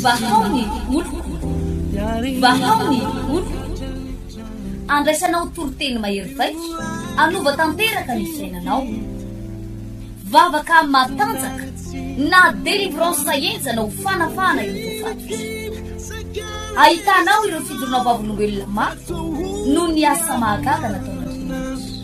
Vahao ny oloko, vahao ny oloko, andraisanao toriteny mahery vaika, hanova tanteraka ny fiainanao. Vavaka matanjaka na délivrance sahenjana ho fanafahana ireo tofaty. Ahitanao ireo fijoroana vavolombelona mafy noho ny asa mahagaga nataon'Andriamanitra.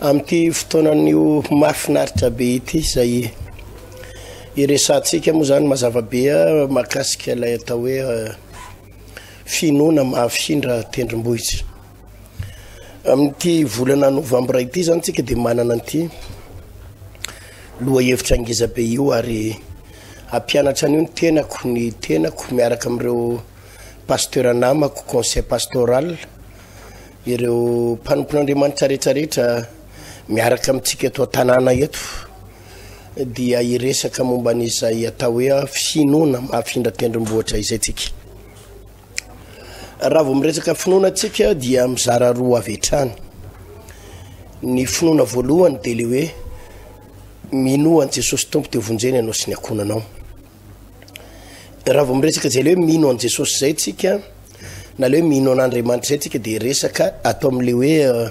Amin'ity fotoanan'io mahafinaritra be ity izay iresahantsika moa izany mazava be mahakasika ilay atao hoe finoana mahafindra tendrombohitra. Amin'ity volana novambra ity izany tsika dia manana an'ity lohahevitra ngeza be io ary hampianatra an'io ny tenako ny tenako miaraka amin'ireo pasteur namako conseil pastoral Ireo mpanompon'Andriamanitra rehetra rehetra miaraka amintsika eto an-tanàna eto dia hiresaka momba an'izay atao hoe finoana mahafindra tendrombohitra izay tsika. Raha vao miresaka finoana tsika dia mizara roa avy hatrany. Ny finoana voalohany dia le hoe minoa an'i Jesosy Tompo dia vonjena ianao sy ny akonanao. Raha vao miresaka izay le hoe mino an'i Jesosy izay tsika na le hoe mino an'Andriamanitra izay tsika dia resaka ato amin'le hoe euh,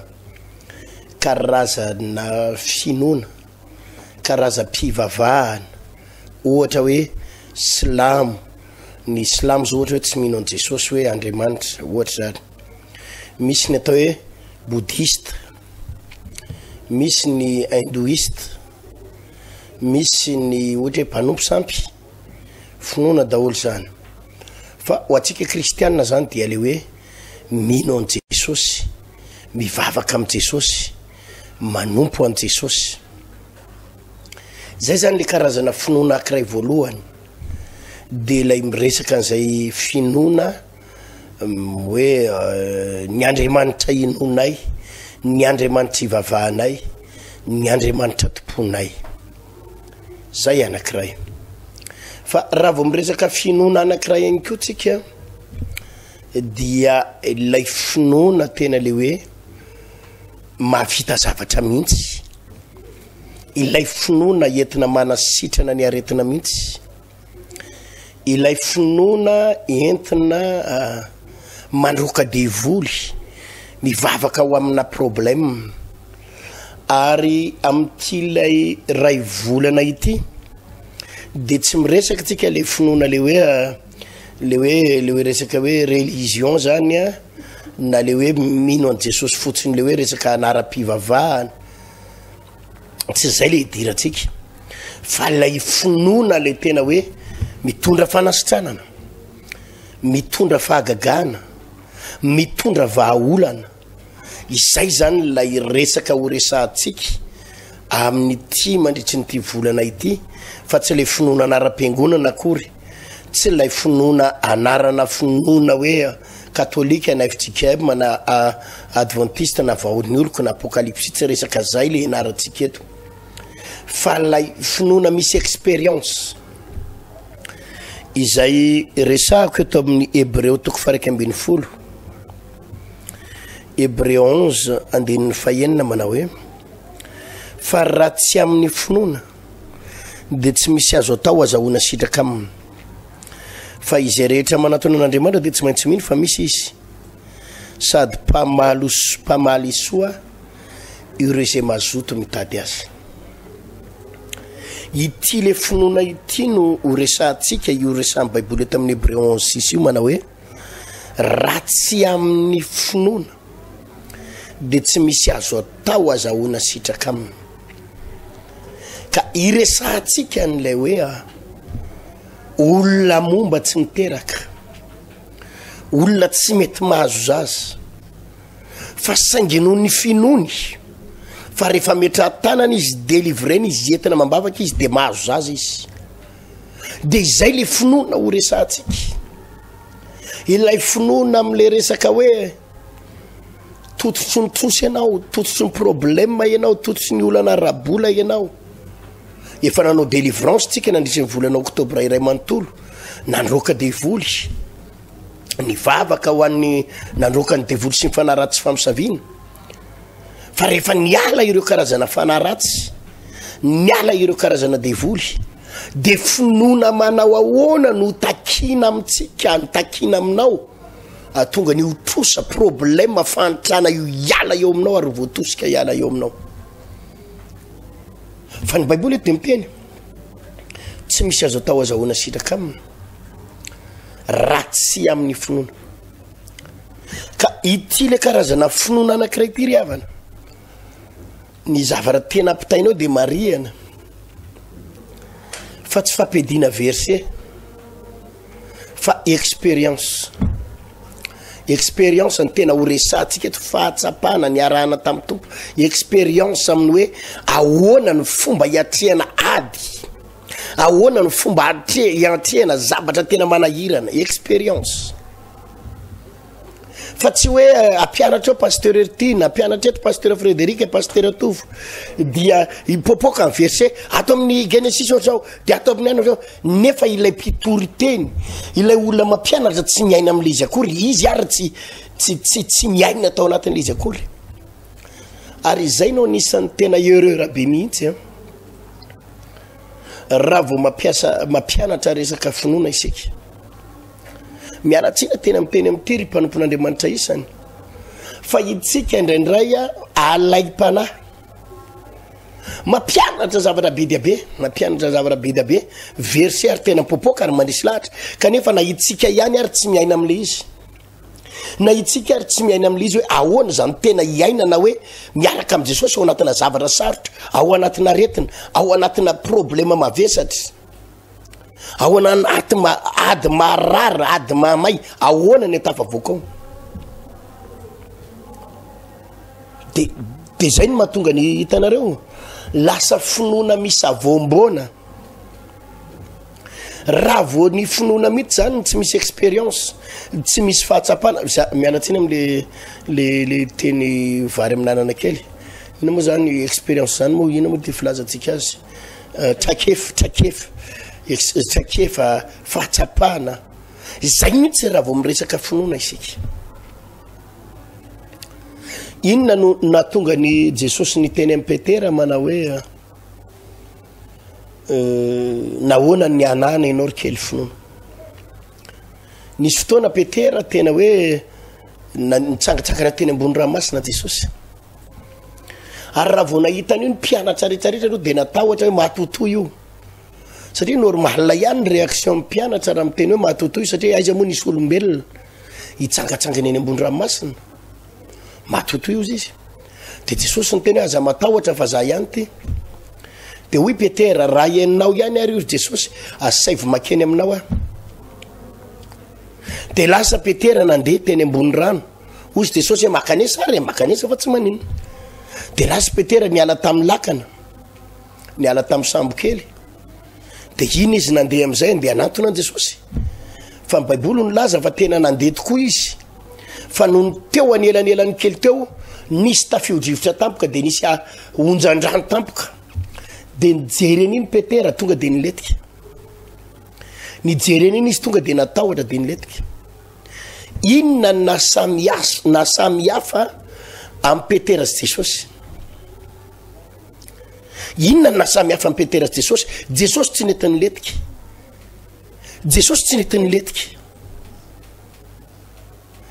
karazana finoana, karazam-pivavahana, ohatra hoe silamo, ny silamo zao ohatra hoe tsy mino an'i Jesosy hoe Andriamanitra, ohatra zany. Misy ny atao hoe bouddhiste, misy ny hindouiste, misy ny ohatra hoe mpanompo sampy finoana daholo zany fa ho antsika kristianina zany dia le hoe mino an'i jesosy mivavaka amin'i jesosy manompo an'i jesosy zay zany le karazana finoana akiray voalohany de lay miresaka an'izay finoana hoe ny andriamanitra inoanay ny andriamanitra ivavahanay ny andriamanitra tomponay zay anankiray fa raha vao miresaka finoana anankiray ihany koa tsika dia ilay finoana tena le hoe mahavita zavatra mihitsy ilay finoana entina manasitrana ny aretina mihitsy ilay finoana entina mandroaka devoly mivavaka ho amina problème ary amin'ity ilay ray volana ity de tsy miresaka antsika le finoana le hoe le hoe le hoe resaka hoe religion zany a na le hoe mino an'i Jesosy fotsiny le hoe resaka anaram-pivavahana tsy izay le idirantsika fa lay finoana le tena hoe mitondra fanasitranana mitondra fahagagana mitondra vahaolana izay zany lay resaka ho resahantsika amin'ny ti mandritry nyity volana ity fa tsy le finoana anara-piangonana akory tsy lay finoana anarana finoana hoe Katolika na fjkm na a adventiste na vahorin'ny oloko na apokalipsy tsy resaka zay le ianarantsika eto fa lay finoana misy expérience izay resahako eto amin'ny hebreo toko faraika ambin'ny folo hebreo onze andininy fahenina manao hoe fa raha tsy amin'ny finoana dia tsy misy azo atao azahoana sitraka aminy. Fa izay rehetra manatona an'Andriamanitra dia tsy maintsy mino fa misy izy, sady mpamaly mpamaly soa ireo izay mazoto mitady azy. Ity le finoana ity no ho resahantsika io resahan'ny Baiboly eto amin'ny Hébreu 11 sisy io manao hoe raha tsy amin'ny finoana dia tsy misy azo atao azahoana sitraka aminy. Ka iresahantsika an'ilay hoe olona momba tsy miteraka, olona tsy mety mahazo zaza, fa saingy noho ny finoany fa rehefa metraha-tanana izy, delivrena izy, entina amam-bavaka izy dia mahazo zaza izy. dia izay le finoana ho resantsika ilay finoana am'le resaka hoe tototry ny tosy ianao tototry ny problema ianao tototry ny olana rabola ianao efa nanao délivrance tsika nandrisin'ny volana oktobra iray manontolo nandroaka devoly ny vavaka ho an'ny nandroaka ny devoly sy ny fanaratsy famisaviana fa rehefa niala ireo karazana fanahy ratsy niala ireo karazana devoly de finoana manao ahoana no takina amintsika ny takina aminao atonga ny hotrosa problema fahantrana io hiala eo aminao ary voatosika hiala eo aminao fa ny baiboly eto de miteny tsy misy azo atao azahoana sitraka aminy raha tsy amin'ny finoana Ka ity le karazana finoana anankiray ity ry havana. Ny zavatra tena ampitainao dia marihana fa tsy fampiadiana verset fa expérience. Expérience ny tena horesahantsika eto fahatsapana niarahana tamin'ny Tompo. Expérience amin'ny hoe ahoana ny fomba hiatrehana ady. Ahoana no fomba hiantrehana zavatra tena manahirana, expérience. Fa tsy hoe ampianatra eo Pasteur Hertine, ampianatra eto Pasteur Frédéric, Pasteur Tovo, dia hipoapoaka ny verset ato amin'ny Genesis ohatrao, dia ato amin'ny any ohatrao, nefa ilay mpitory teny, ilay olona mampianatra tsy miaina amin'ilay izy akory, izy ary tsy tsy tsy tsy miaina tao anatin'ilay izy akory. Ary izay no anisan'ny tena erreur be mihitsy an. raha vao mampiasa mampianatra resaka finoana isika miaratsina tena miteny amin'ity ry mpanompon'andriamanitra isany fa itsika indraindray a alaim-panahy mampianatra zavatra be dia be mampianatra zavatra be dia be verse ary tena popoka ary mandrisy lahatra kanefa na itsika ihany ary tsy miaina amin'ilay izy Na itsika ary tsy miaina amin'ilay izy hoe ahoana izany tena hiainana hoe miaraka amin'i Jesosy ao anatina zavatra sarotra, ao anatina aretina, ao anatina problema mavesatra, ao anaty ady maharary, ady mahamay, ahoana ny tafavoaka ao. De de zay no mahatonga ny hitanareo lasa finoana misavoamboana. Raha vao ny finoana mihitsy zany no tsy misy expérience, tsy misy fahatsapana, za miala tsiny amle le le teny vary amin'anana kely, inona moa zany expérience zany moa inona moa ty filazantsika azy, trakefy trakefy ex- trakefa, fahatsapana, zay mihitsy raha vao miresaka finoana isika. Inona no nahatonga an'i Jesosy niteny an'i Petera manao hoe. nahoana ny anana ianao ry kely finoana nisy fotoana petera tena hoe nitsangatsangana teny ambony rahamasina jesosy ary raha vao nahitana io ny mpianatra retraretra aloha dia natahotra hoe matotoa io satria normala ihany ny réaction ny mpianatra raha miteny hoe matotoa io satria aiza moa nisy olombelona hitsangatsangana eny ambony rahamasina Matotoy ozy izy. Dia Jesosy niteny hoe aza matahotra fa za ihany ty. Dia hoy Petera, raha ianao ihany ary ozy Jesosy, asaivo makeny aminao aho. Dia lasa Petera nandeha teny ambony rano. Ozy Jesosy hoe makanesa ary, makanesa fa tsy maninona. Dia lasa Petera niala tamin'ny lakana. niala tamin'ny sambokely de iny izy nandeha am'izay ndeha anatona an' jesosy fa ny baiboly ny laza fa tena nandeha tokoa izy fa noho ny teo anelanelan'ny kely teo nisy tafiodrivotra tampoka de nisy a onjandrano tampoka de nijereny iny petera tonga de niletika nijereny iny izy tonga de natahotra de niletika inona ny nasamias- nasamihafa amin'i petera sy jesosy Inona no nahasamihafan'i Petera sy Jesosy? Jesosy tsy nety nilentika. Jesosy tsy nety nilentika.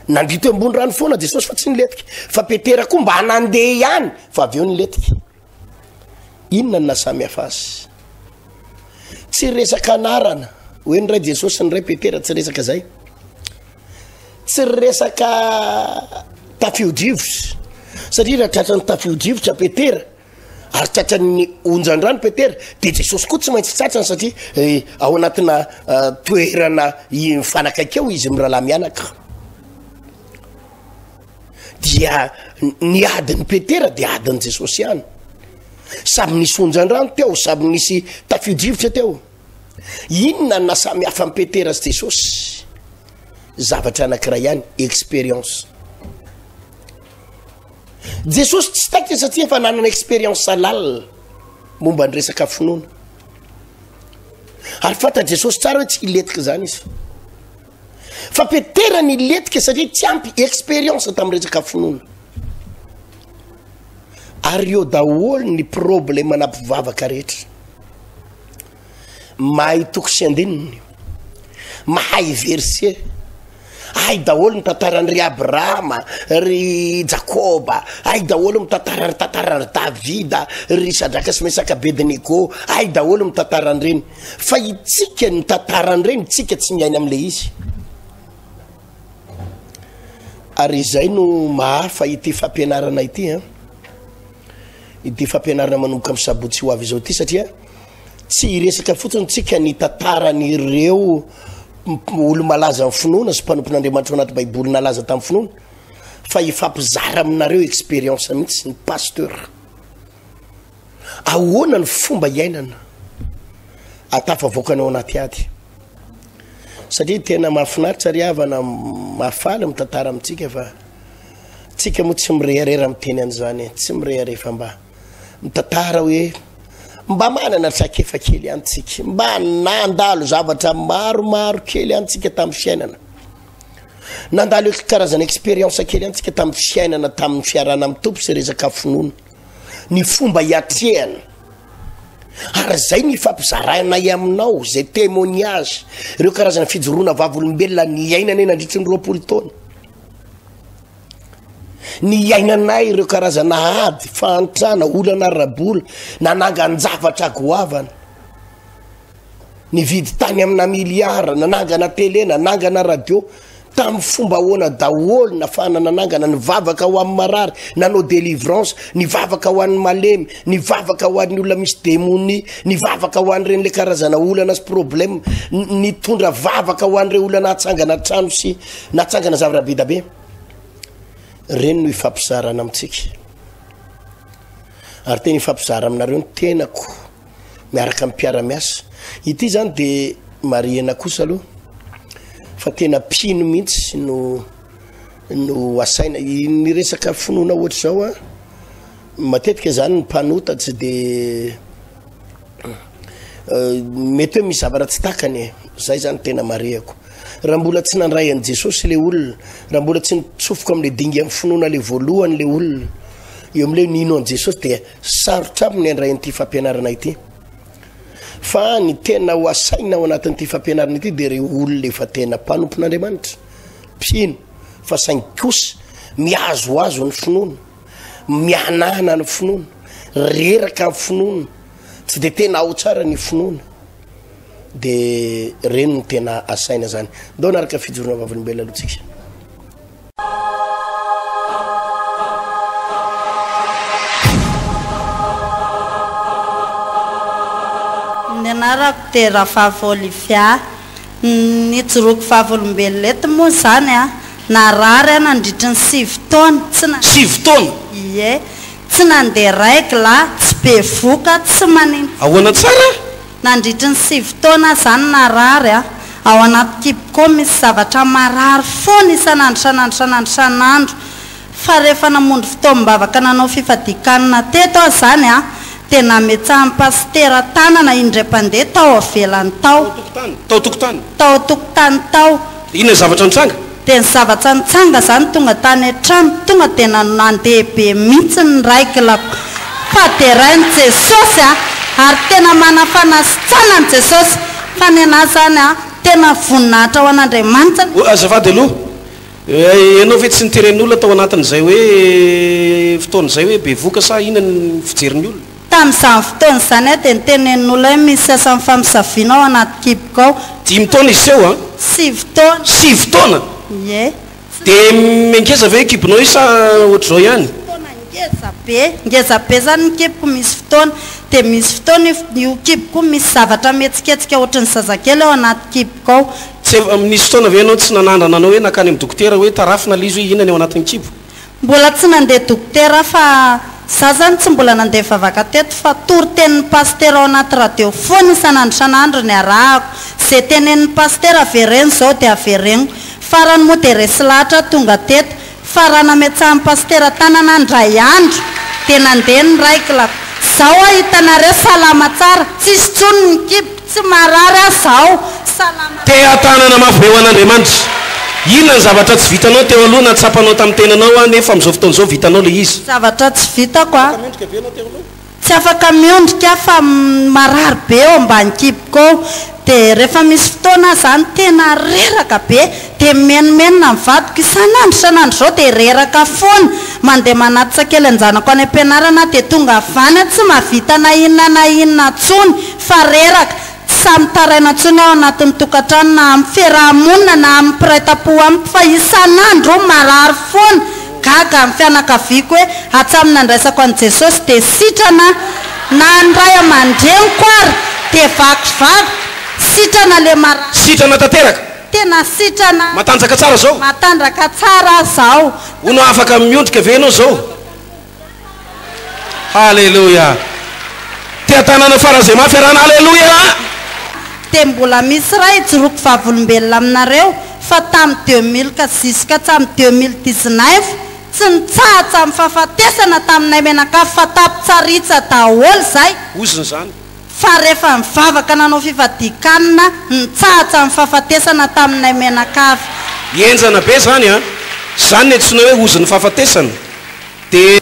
Nandia teo ambony rano foana Jesosy fa tsy nilentika. Fa Petera koa mba nandeha ihany fa avy eo nilentika. Inona no nahasamihafa azy? Tsy resaka anarana. Hoe ny ray Jesosy ny ray Petera tsy resaka izay. tsy ry resaka tafiodrivotra satria raha tratran'ny tafiodrivotra petera ary tratran'ny onjandrano petera de jesosy koa tsy maintsy tratrany satria eh, ao anatina eh, toerana mifanakaiky eo izy mirahalahy mianaka dia ny adin'ny petera de adin'ny jesosy ihany samy nisy onjandrano teo samy nisy tafiodrivotra teo Inona no nasamy hafa an'i Petera sy Jesosy? Zavatra anankiray ihany, expérience. Jesosy tsy taitra satria efa nanana expérience lalina momba ny resaka finoana. Ary fanta Jesosy tsara hoe tsy hiletika izany izy. fa petera ny letika satria tsy ampy experience tamin'ny resaka finoana ary eo daholo ny problema na mpivavaka rehetra mahay toko sy andininy mahay verse ahy daholo ny tantarany ry abrahama ry jakoba ahy daholo mitantarany tantarany ry davida ry sadraka sy mesaka bednego ahy daholo mitantarany reny Fa itsika ny tantara an'ireny tsika tsy miaina amle izy. Ary izay no mahafa ity fampianarana ity an. Ity fampianarana manomboka amin'ny sabotsy ho avy izao ity satria tsy hiresaka fotsiny tsika ny tantaran'ireo olo malaza amin'ny finoana sy mpanompon'Andriamanitra ao anaty baiboly nalaza tamin'ny finoana fa hifampizara aminareo expérience mihitsy ny pasteur. Ahoana ny fomba iainana ahatafavoakana ao anaty ady? Satria tena mahafinaritra ry havana mahafaly mitantara amintsika fa tsika moa tsy mireharera miteny an'izany, tsy mireharera fa mba mitantara hoe mba manana trakefa kely ihany tsika, mba nandalo zavatra maromaro kely ihany tsika tamin'ny fiainana. Nandalo karazana expérience kely ihany tsika tamin'ny fiainana, tamin'ny fiarahana amin'ny tompo sy resaka finoana. ny fomba hiatrehana ary izay ny fampizarainay aminao izay témoignage ireo karazana fijoroana vavolombelona ny iainanay nandritry ny roapolo taona ny iainanay ireo karazana ady fahantrana olana arabola nanangan-javatra goavana Nividy tany amina milliard, nanangana télé, nanangana radio. Tamin'ny fomba ahoana daholo nafahana nanangana, nivavaka ho amin'ny marary, nanao délivrance, nivavaka ho an'ny malemy, nivavaka ho an'ny olona misy demonia, nivavaka ho an'ireny le karazana olana sy problème, nitondra vavaka ho an'ireo olona natsangana trano sy natsangana zavatra be da be. Ireny no ifampizarana amintsika. Ary tena ifampizara aminareo ny tenako. miaraka amin'ny mpiara-miasa. Ity izany dia marihina kosa aloha fa tena mpino mihitsy no no asaina ny resaka finoana ohatr'izao a matetika izany ny mpanota tsy dia euh, mety hoe misy zavatra tsy takany e zay zany tena marihako raha mbola tsy nandray an'i jesosy le olona raha mbola tsy nitsofoka amin'le dingan'ny finoana le voalohany le olona eo amin'le nino an'i jesosy dia Sarotra aminy ny handray an'ity fampianarana ity. Fa ny tena ho asaina ao anatin'ity fampianarana ity dia ireo olona efa tena mpanompon'Andriamanitra, mpino, fa saingy kosa mihazoazo ny finoana, mihanahana ny finoana, reraka ny finoana, tsy dia tena ao tsara ny finoana. Dia ireny no tena asaina zany. Ndao naraka fijoroana vavolombelona aloha tsika. Ny anarako dia Rafavy Olivia. Nijoroako vavolombelona eto moa izany an! Narary aho nandritry ny sivy taona, tsy nandeha. Sivy taona? Ie. Tsy nandeha règle, tsy bevoka, tsy maninona. Ahoana tsara? Nandritry ny sivy taona aho izany narary a! Ao anaty kiboko ao misy zavatra marary foana isan'andro isan'andro isan'andro isan'andro. Fa rehefa namonjy fotoam-bavaka nanao fifadian-kanina teto aho izany a, dia nametsahan'ny pasitera tanana indray mpandeha tao avelany tao. Tao an-tokotany? Tao an-tokotany. Tao an-tokotany tao. Dia inona ny zavatra nitranga? Dia ny zavatra nitsanga zany tonga tany an-trano tonga dia nandeha be mihitsy ny raiklako fa derain'i Jesosy a! ary tena manafanasitsana an'i Jesosy fa ny anah zany a! tena voninahitra ho an'Andriamanitra. Oa, azafady aloha, ianao ve tsy niteren'ny olona tao anatin'izay hoe fotoana izay hoe bevoka sa inona ny fijerin'ny olona? Tamin'izany fotoana izany aho dia notenenin'olona hoe misy sasany mifampisaviana ao anaty kiboko ao. Dimy taona izy teo an? Sivy taona. Sivy taona? Ie. Tsy Dia nisy olona mba ngeza ve io kibonao io sa ohatr'izao Nisy ihany? fotoana ngeza be. Ngeza be izany ny kiboko misy fotoana. Dia misy fotoana io io kiboko io misy zavatra mihetsiketsika ohatry ny zazakely ao anaty kiboko ao. Tsy efa, nisy fotoana ve ianao tsy nanandrana anao hoe nankany amin'ny dokotera hoe tarafina ilay izy hoe inona ny ao anatin'ny kibo? Mbola tsy nandeha dokotera aho fa za zany tsy mbola nandeha nivavaka teto fa toritenin'ny pasitera ao anaty radio foana isan'andro isan'andro ny arahako. Ze tenenin'ny pasitera avereno zao de avereniko. Farany moa de resy lahatra aho tonga teto fa raha nametsahan'ny pasitera tanana aho indray andro de nandeha ny raikilako. Zao aho hitanareo salama tsara tsisy tsony ny kibo. Tsy marary aho zao, salama. Tea tanana mafy be ho an'Andriamanitra. Inona ny zavatra tsy vitanao teo aloha na tsapanao tamin'ny tenanao an nefa amin'izao fotoana izao vitanao ilay izy? Zavatra tsy vitako a. Tsy afaka miondrika aho fa marary be eo ambany kiboko eo dia rehefa misy fotoana aho izany tena reraka be Dia mimenomenona ny vadiko isan'andro isan'andro izao dia reraka foana. Mandeha manatsa kely an-janako any am-pianarana aho dia tonga avy any tsy mahavita na inona na inona intsony fa reraka. Tsy sahy mitaraina intsony aho anatin'ny tokantrano na amin'ny fiaraha-monina na amin'ny mpiray tampo amiko fa isan'andro aho marary foana. Gaga ny fianakaviako hoe hatramin'ny nandraisako an'i Jesosy dia sitrana aho. Na ny ray aman-dreniko ary dia vakivaky sitrana ilay marary. Sitrana tanteraka. Tena sitrana. Matanjaka tsara zao. Matanjaka tsara zao. Hono afaka miondrika ve enao zao? Haleloia. Tia tanana fara ze mafy arahana Haleloia. Dia mbola misy iray hijoroako vavolombelona aminareo fa tamin'ny deux mille ka jusqu'à hatramin'ny deux mille dix-neuf tsy nitsahatra ny fahafatesana taminay mianakavy fa tampitsaritsy daholo izay. Ozona izany. Fa rehefa nivavaka nanao fifadian-kanina, nitsahatsa ny fahafatesana taminay mianakavy. Henjana be zany an! Zany ny antsoina hoe ozin'ny fahafatesana dia.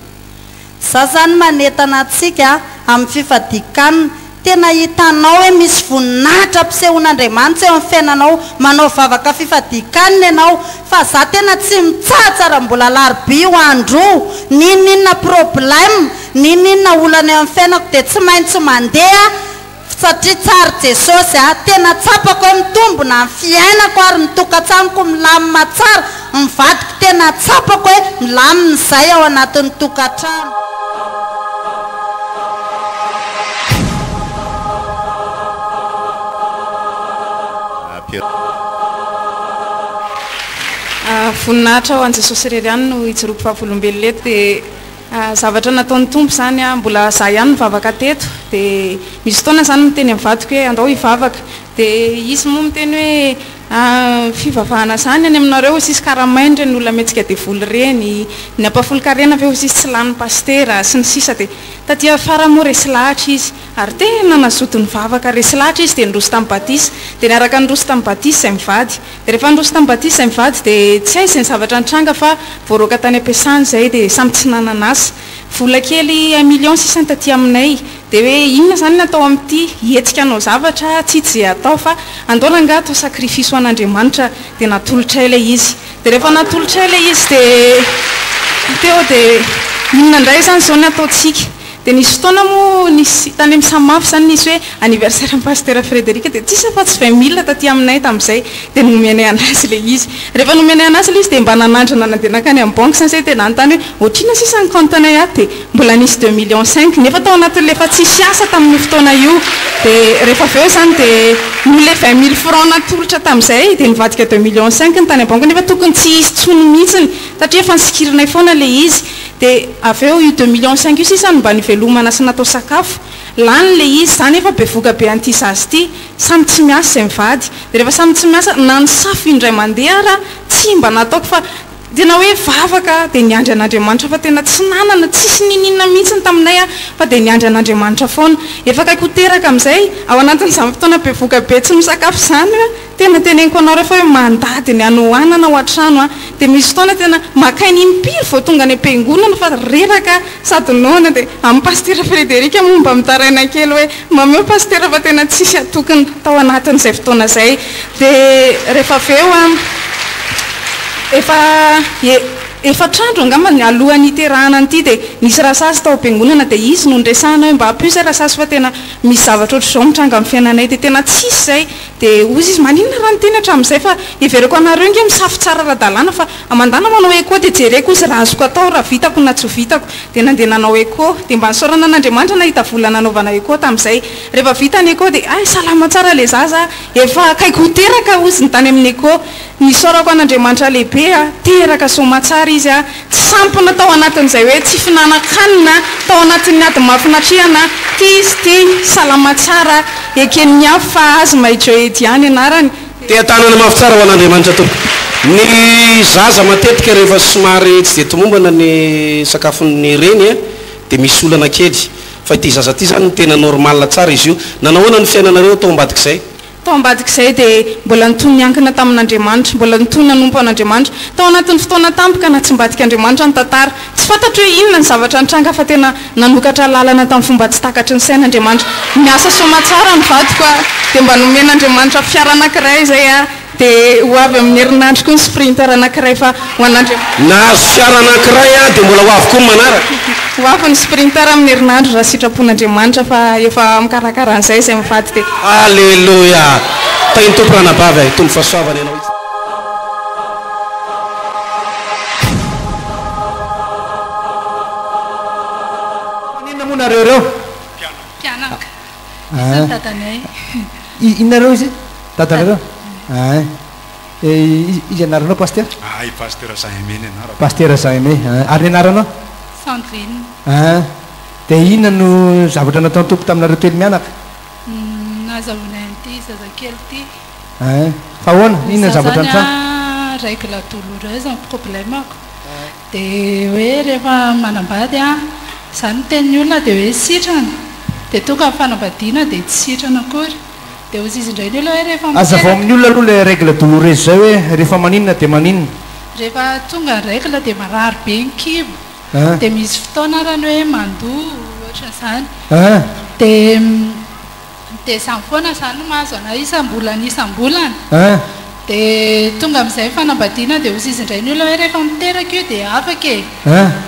Za zany manentana antsika amin'ny fifadian-kanina, tena hitanao hoe misy voninahitra ampisehoan'Andriamanitra eo amin'ny fiainanao manao vavaka fifadian-kanina ianao, Fa za tena tsy mitsahatra ra mbola alarobia io andro io, n'inon'inona problème, n'inon'inona olana eo amin'ny fiainako dia tsy maintsy mandeha satria tsara Jesosy a! Tena tsapako hoe mitombona ny fiainako ary ny tokantranoko milamina tsara, ny vadiko tena tsapako hoe milamina izay ao anatin'ny tokantrano. Voninahitra ho an'i Jesosy irery ihany no hijoroako vavolombelona eto dia zavatra nataon'ny Tompo izany aho mbola izaho ihany nivavaka teto dia misy fotoana izany miteny amin'ny vadiko hoe andao hivavaka dia izy moa miteny hoe fivavahana izany any aminareo hoy sisy karamaina ireny olona mihetsika devoly ireny ny ampahafolon-karena ve hoy sisy tsy lanin'ny pasitera sy ny sisa dia taty afara moa resy lahatra izy Ary tena nazoto nivavaka resy lahatra izy dia niroso tamin'ny batisa. Dia niaraka niroso tamin'ny batisa izay mivady. Dia rehefa niroso tamin'ny batisa izay mivady dia tsy hay izay zavatra nitranga fa voaroaka tany am-piasany izay dia samy tsy nanana asa. Vola kely un million sisa ny taty aminay. Dia hoe inona izany ny atao amin'ity? Hihetsika hanao zavatra aho tsy hita izay hatao fa andaona angaha atao sacrifice ho an'Andriamanitra? Dia natolotray ilay izy. Dia rehefa natolotray ilay izy dia teo dia inona indray izany izao ny ataontsika? Dia nisy fotoana moa nisy tany amin'ny Samaf izany nisy hoe anniversaire an'i Pasitera Frederic dia tsisy afa tsy vingt mille taty aminay tamin'izay dia nomenay an'azy ilay izy. Rehefa nomenay an'azy ilay izy dia mba nanandrana nandeha nankany amin'ny banky izany izay dia nanontany hoe ohatr'inona sisa ny compte anay ato dia mbola nisy deux millions cinq nefa tao anatin'ilay efa tsisy asa tamin'io fotoana io dia rehefa avy eo izany dia noho ilay vingt mille francs natolotra tamin'izay dia nivadika deux millions cinq ny tany am-banky nefa tokony tsy hisy intsony mihitsiny satria efa nosikirinay foana ilay izy Dia avy eo io deux millions cinq io sisa no mba nivelomana sy natao sakafo. Lany ilay izy. Za nefa bevoka be an'ity zaza ity. Samy tsy miasa izay mivady. Dia rehefa samy tsy miasa, na ny safo indray mandeha ara tsy mba nataoko fa tena hoe vavaka dia niandry an'Andriamanitra fa tena tsy nanana, tsisy niniana mihitsy ny taminay aho fa dia niandry an'Andriamanitra foana. Efa akaiky ho teraka amin'izay. Ao anatin'izany fotoana bevoka be tsy misakafo izany. Tena teneniko anao refa hoe mandady ny hanohanana ao an-trano an, dia misy fotoana tena maka aina impiry vao tonga any am-piangonana fa reraka sady noana dia amin'i Pasitera Frederic moa mba mitaraina kely hoe mameo Pasitera fa tena tsisy atokona tao anatin'izay fotoana izay dia refa avy eo an efa e efatra andro angamba ny alohan'ny hiterahana an'ity dia nisy rasazy tao am-piangonana dia izy no niresahana hoe mba ampio izay rasazy fa tena misy zavatra ohatr'izao mitranga amin'ny fiainanay dia tena tsisy izay Dia hozy izy, maninona raha ny teny hatramin'izay fa heverako anareo ange misafo tsara ara-dalàna fa mandana manao echo dia jereko hozy raha azoko atao, raha vitako na tsy ho vitako. Dia nandeha nanao echo. Dia mba nisaorana an'Andriamanitra nahita vola nanaovana echo tamin'izay. Rehefa vita ny echo dia, hay salama tsara ilay zaza a! Efa akaiky ho teraka hozy ny tany amin'ny echo. Isaorako an'Andriamanitra lehibe a! Teraka soamatsara izy a! Tsy sampona tao anatin'izay hoe tsy fihinanan-kanina, tao anatin'ny ady mafy natrehana, tia izy ity, salama tsara, eken'ny hafa fa azy Maijohedy ihany anarany. Tea tanana mafy tsara ho an'Andriamanitra tompoko. Ny zaza matetika rehefa somary tsy dia tomombana ny sakafon'ny reny a, dia misy olana kely. Fa ity zaza ity izany tena normal tsara izy io. Nanahoana ny fiainanareo tao ambadik'izay? Tao ambadik'izay dia mbola nitohy niankina tamin'Andriamanitra, mbola nitohy nanompo an'Andriamanitra. Tao anatin'ny fotoana tampy ka natsimbadik'Andriamanitra ny tantara. Tsy fantatro hoe inona ny zavatra nitranga fa tena nanokatra lalana tamin'ny fomba tsy takatry ny saina Andriamanitra. Miasa soamantsara ny vadiko a! dia mba nomen'Andriamanitra fiara anankiray izay a! dia ho avy amin'ny herinandro koa ny sprinter anankiray fa Ho an'Andriam-. Nahazo fiara anankiray aho dia mbola ho avy koa ny manaraka. Ho avy ny Sprinter amin'ny herinandro raha sitrapon'Andriamanitra fa efa mikarakara an'izay izay mivady dia. Aleloia! Tahin'ny Tompo ranabavy a! Hitombo fahasoavana ianao itsy. Maninona moa nareo ireo? Mpianaka. Izy zany dadanay. Inona nareo izy? Dadanareo? Ay. Iza ny anaranao Pasitera? Ahy Pasitera Jean Aimé ny anarako. Pasitera Jean Aimé a! Ary ny anaranao? Sandrine. An! Dia inona no zavatra nataon'ny Tompo taminareo telo mianaka? Nazahoanay an'ity zazakely ity. An! Fa ahoana? Inona ny zavatra nitranga? Ny sasany an, règle douloureuse no problème-ko. Dia hoe rehefa manambady an, izaho no miteny ny olona dia hoe sitrana. Dia tonga ny fanambadiana dia tsy sitrana akory. Dia hozy izy indray ny olona hoe rehefa miteraka. Azavao amin'ny olona aloha ilay règle douloureuse izay hoe rehefa maninona dia maninona. Rehefa tonga ny règle dia marary be ny kibo. Dia misy fotoana arany hoe mandoa ohatran'izany. Dia dia izany foana izany no mahazo an'ahy isam-bolana isam-bolana. Dia tonga amin'izay ny fanambadiana dia hozy izy indray ny olona hoe rehefa miteraka io dia afaka e.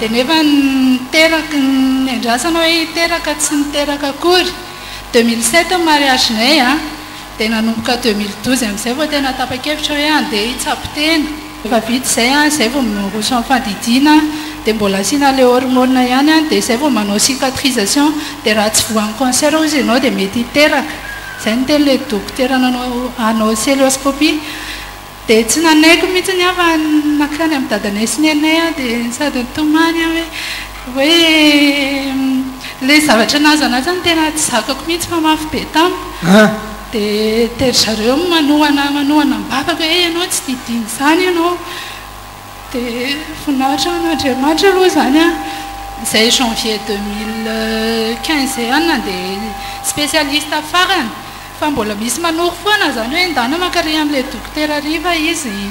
Dia nefa ny miteraka ny andrasana hoe hiteraka tsy niteraka akory. Deux mille sept ny mariagenay a, dia nanomboka deux mille douze amin'izay vao tena tapa-kevitra hoe handeha hitsabo tena. Efa vita izay a, izay vao miroso amin'ny fandidiana, dia mbola asiana ilay hormone ihany a, dia izay vao manao cicatrisation, dia raha tsy voan'ny cancer hozy ianao dia mety hiteraka. Izay no tenin'ilay dokotera nanao anao celeoscopie. Dia tsy nanaiky mihitsiny aho fa nankany amin'i dadanay sy nenay aho dia sady nitomany aho hoe hoe ilay zavatra nahazan'azy aho no tena tsy zakako mihitsy fa mafy be tamiko. Dia dia ry zareo manohana manohana ny babako hoe ianao tsy didiana izany ianao. Dia voninahitra an'Andriamanitra aloha izany an. Izay janvier deux mille quinze ihany nandeha spécialiste farany. Fa mbola misy manoro foana izany hoe ndana mankary amin'ilay dokotera hariva izy.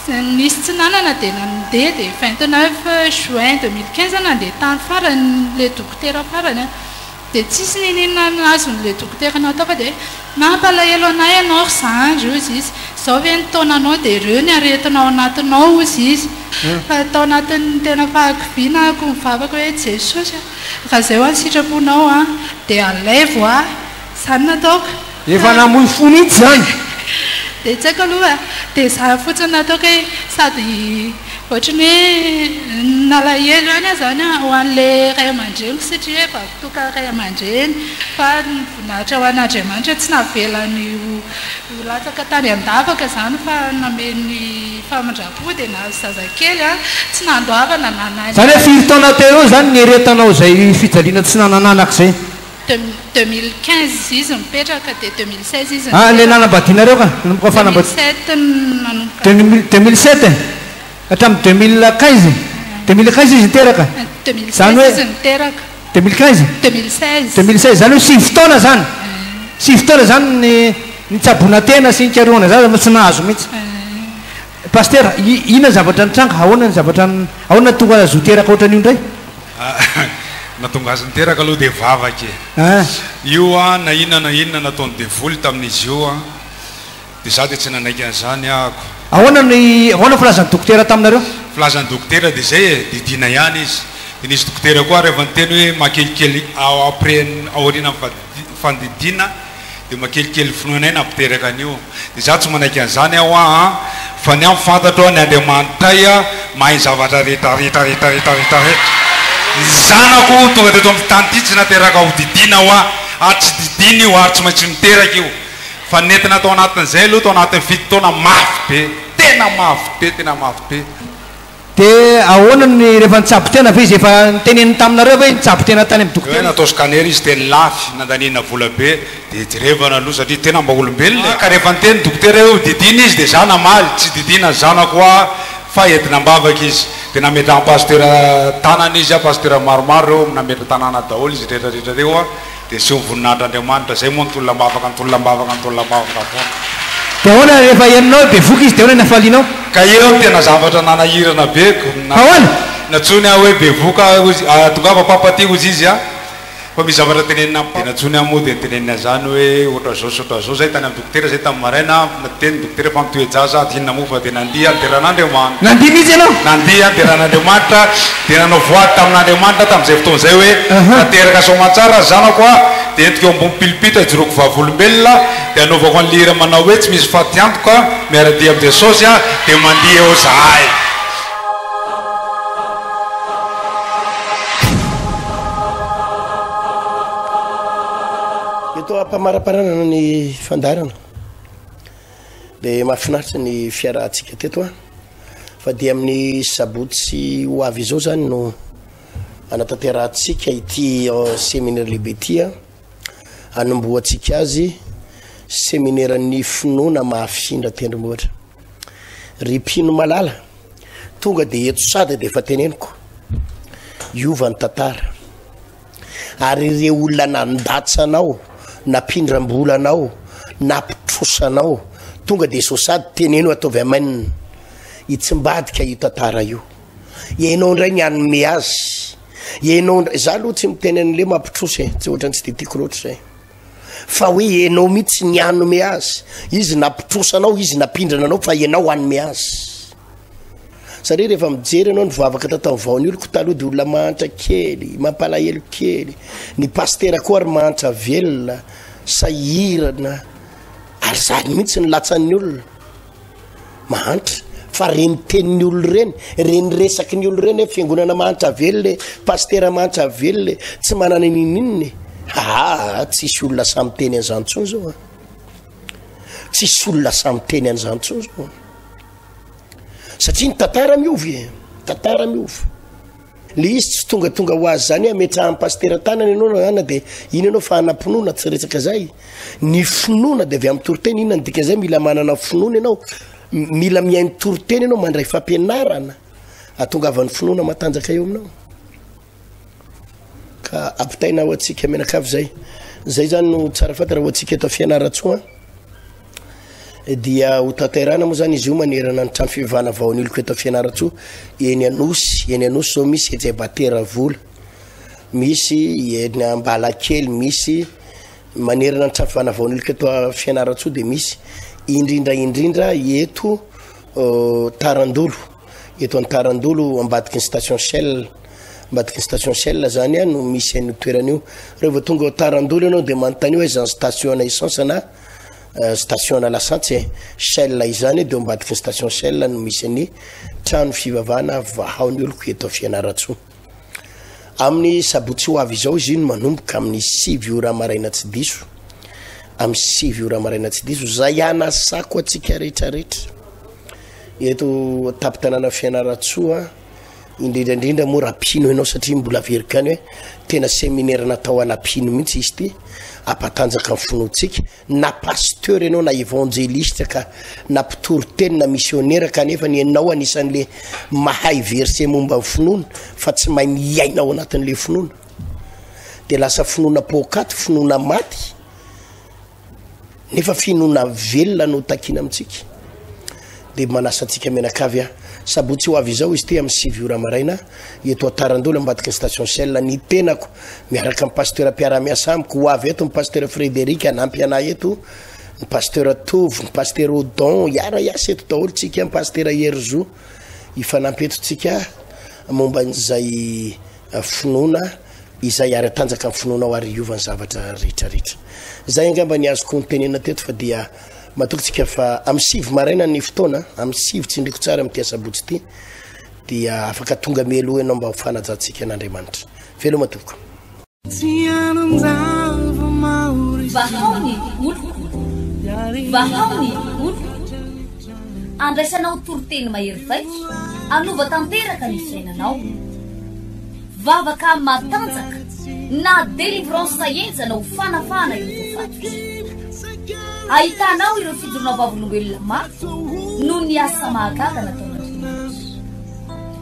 Nisy tsy nanana dia nandeha dia vingt neuf juin deux mille quinze nandeha tany farany ilay dokotera farany dia tsisy nininona ny azon'ilay dokotera natao fa dia mampalahelo anah ianao ry zandry hozy izy izao ve ny taonanao dia ireo ny aretina ao anatinao hozy izy fa tao anatin'ny tena fahakiviana ahako nivavaka hoe Jesosy a raha izay ho'a ny sitraponao an dia alaivo ahy Izany no ataoko. Efa namoy fo mihitsy izany. Dia tsy haiko aloha e. Dia izany fotsiny no ataoko hoe sady ohatry ny hoe nalahelo ihany aho izany ho an'ilay ray aman-dreniko satria hoe vaky tokana ray aman-dreny. Fa voninahitra ho an'Andriamanitra tsy navelany ho latsaka tany an-davaka izany fa nameny famindram-po dia nahazo zazakely. Tsy nandoavana na naninona. Izany hoe firy taona teo eo izany niaretanao izay fijaliana tsy nanana anaka izay? De deux mille quinze izy nipetraka de deux mille seize izy Ah le nanambadianareo ka nanomboka deux mille fanambadiana sept nanomboka deux mille deux mille sept e hatramin'ny deux mille quinze deux mille quinze izy niteraka deux mille zany seize hoe izy niteraka deux mille quinze deux mille seize deux mille seize zany hoe sivy taona zany sivy taona zany ny nitsaboana tena sy nikarohana zaza no tsy nahazo mihitsy Pasitera i- inona ny zavatra nitranga ahoana ny zavatra n- ahoana no tonga azo ho teraka ohatran'io indray Nahatonga azy niteraka aloha dia vavaka e. Io an, na inona na inona nataon'ny devoly tamin'izy io an, dia za dia tsy nanaiky an'izany ahako. Ahoana ny, ahoana ny filazan'ny dokotera taminareo? Filazan'ny dokotera dia izay e, didiana ihany izy. Dia nisy dokotera koa ary efa niteny hoe maha kelikely ao après, aorianan'ny fandidiana. Dia makelikely finoanay nampiteraka an'io. Dia izaho tsy manaiky an'izany aho aa, fa ny ahy ny fantatro an, ny Andriamanitay an, mahay ny zavatra rehetra rehetra rehetra rehetra rehetra rehetra. Ny zanako tonga teto amin'ity tany ity tsy nateraka ho didiana hoa, ary tsy didiana io, ary tsy maintsy miteraka io. Fa nentina tao anatin'izay aloha, tao anatin'ny fito taona, mafy be, tena mafy be, tena mafy be. Dia ahoana ny rehefa nitsabo tena ve izy efa niteneniny taminareo ve nitsabo tena tany amin'ny dokotera izy. Tena atao scanner izy tena lafy nandaniana vola be dia jerevana aloha satria tena mba olombelona e. Ka rehefa niteny dokotera hoe hodidina izy dia za namaly tsy didiana ny zanako hoa fa entina ambavaka izy dia nametrahan'ny pasitera tanana izy a pasitera maromaro reo nametra tanana daholo izy retraretra reo a. Dia tsy ho voninahitr'Andriamanitra. Izay moa nitolona-bavaka, nitolona-bavaka, nitolona-bavaka foana. Dia ahoana rehefa henonao dia voky izy, dia ahoana ny hafalianao? Ka io no tena zavatra nanahirana be ko. Ka ahoana? Nantsoiny aho hoe bevoka hoy izy, ah, tongava papa aty hoy izy an, fa misy zavatra tenenina amiko. Dia nantsoiny aho moa dia noteneniny an'izany hoe ohatr'izao sy ohatr'izao izay tany amin'ny Dokotera izay tamin'ny maraina, dia ny dokotera efa nitoe-jaza, dia inona moa fa dia nandihy ny deran'Andriamanitra. Nandihy mihitsy ianao? Nandihy ny deran'Andriamanitra, dia nanao voady tamin'Andriamanitra tamin'izay fotoana izay hoe, Tanteraka soamantsara ry zanako a! Dia entiko eo ambony pilipitra hijoroako vavolombelona, dia hanaovako an'ilay hira manao hoe, Tsy misy faty antoka, miara-dia amin'i Jesosy aho, dia mandihy eo izahay. Toa am-pamaraparanana ny fandaharana dia mahafinaritra ny fiarahantsika teto an. Fa dia amin'ny sabotsy ho avy izao izany no anatanterahantsika ity euh, seminaire lehibe ity an. Anombohantsika azy seminairan'ny finoana mahafindra tendrombohitra. Ry mpino malala, tonga dia eto sada dia efa teneniko. Hiova ny tantara. Ary ireo olona nandatsa anao, nampindram-bola anao, nampitrosa anao, tonga dia sao sady teneno ataovy amen. Hitsimbadika io tantara io. Ianao indray ny hanome azy. Ianao indray, za aloha tsy miteny an'le mampitrosa e, tsy ohatrany tsy de tiako loatra zay. Fa hoe enao mitsy ny hanome azy izy napitrosa anao izy napindrana anao fa enao hanome azy satria rehefa mijery anao nivavaka tatao vao ny oloko taloha de olona mahantra kely mampalahelo kely ny pastera koa ary mahantra velona sahirana ary zany mitsy ny latsan'ny olona mahantra fa reny teniny olo reny reny resaky ny olo reny hoe fiangonana mahantra velona e pastera mahantra velona e tsy manana nininina e haa tsisy olona samy teny an'izanytsoa zao a tsisy olona samy teny an'izanytsoa zao satria ny tantara miovy e tantara miovy Le izy tsy tongatonga ho azy zany ametrahan'ny pasitera tanana ianao na ana dia ino ianao fa anam-pinoana tsy resaka zay ny finoana dia avy amin'ny toriteny inona ny dika zay mila manana finoana ianao mila mihaino toriteny ianao mandray fampianarana atongavan'ny finoana matanjaka eo aminao ka ampitaina ho antsika mianakavy zay zay zany no tsara fantatra ho antsika eto fianaratsoa dia ho tantairana moa zany izy io manerana ny trano fivavahana vao aniloko eto fianarantsoa eny anosy eny anosy zao misy ejay batera vola misy eny ambala kely misy manerana ny trano fivavahana vao aniloko eto fianarantsoa de misy indrindra indrindra eto euh, tarandolo eto any tarandolo ambadiky ny station shell ambadiky ny station shell zany a no misy an'io toerana io rehefa tonga ao tarandolo ianao de manontany hoe zany station na essence na eh, station na lasantsy eh. shell izany eh, de ambadiky ny station shell no misy ny trano fivavahana vahao ny oloko eto fianaratsoa amin'ny sabotsy ho avy izao izy iny manomboka amin'ny sivy ora maraina tsy diso amin'ny sivy ora maraina tsy diso zay anasako atsika rehetrarehetra eto tapitanana fianaratsoa indrindra indrindra moa raha mpino ianao satria mbola averiko any hoe tena seminaire natao ana mpino mihitsy izy ty ampatanjaka ny finoantsika na pasteur ianao na évangéliste ka na mpitory teny na missionnaire kanefa ny ianao anisan'le mahay verset momba ny finoana fa tsy mahay miaina ao anatin'le finoana de lasa finoana poakaty finoana maty Nefa finoana velona no takiana amintsika. Dia manasa antsika mianakavy aho. Sabotsy ho avy izao izy ity amin'ny sivy ora maraina, eto Antarandola ambadiky ny station Shell. Ny tenako, miaraka amin'ny pasteur mpiara-miasa amiko, ho avy eto ny pasteur Frédéric hanampy anay eto, ny pasteur Tovo, ny pasteur Odon, hiara-hiasa eto daholo tsika, ny pasteur Herizo hifanampy eto tsika momba an'izay finoana izay ary atanjaka ny finoanao ary hiova ny zavatra rehetrarehetra. Izay angamba ny azoko nitenenina teto fa dia matoky tsika fa amin'ny sivy maraina ny fotoana, amin'ny sivy tsindriko tsara amin'ity asabotsy ity dia afaka tonga mialoha ianao mba ho fanajantsika an'Andriamanitra. Veloma tompoko. Vahao ny oloko. Vahao ny oloko. Andraisanao toriteny mahery vaika hanova tanteraka ny fiainanao. Vavaka matanjaka na délivrance henjana ho fanafahana ireo voafaty. Ahitanao ireo fijoroana vavolombelona mafy noho ny asa mahagaga nataon'Andriamanitra.